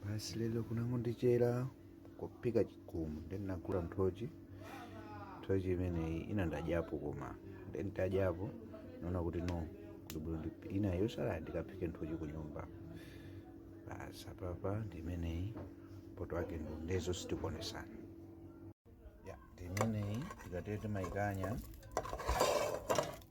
basi lelo kunangondichera kuphika chigumu nde ndinagula nthochi nthochi imeneyi ina ndadyapo koma nde ndadyapo naona kuti no kuti bwino ina yotsala ndikaphike nthochi ku nyumba basi apapa ndi imeneyi poto ake ndiye zo sitikuonesana ya ndi imeneyi tikatete maikanya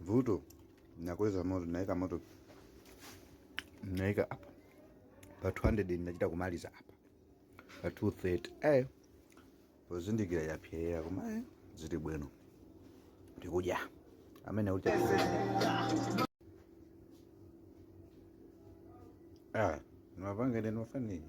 Vuto. Ndinakoleza moto, ndinaika moto. Naika apa. Pa 200 ndinachita kumaliza apa. Pa 230. Eh. Pozindikira yapsera koma eh zili bwino. Ndikudya. Amene ucha. Ah, nwapange ndi nwafanini.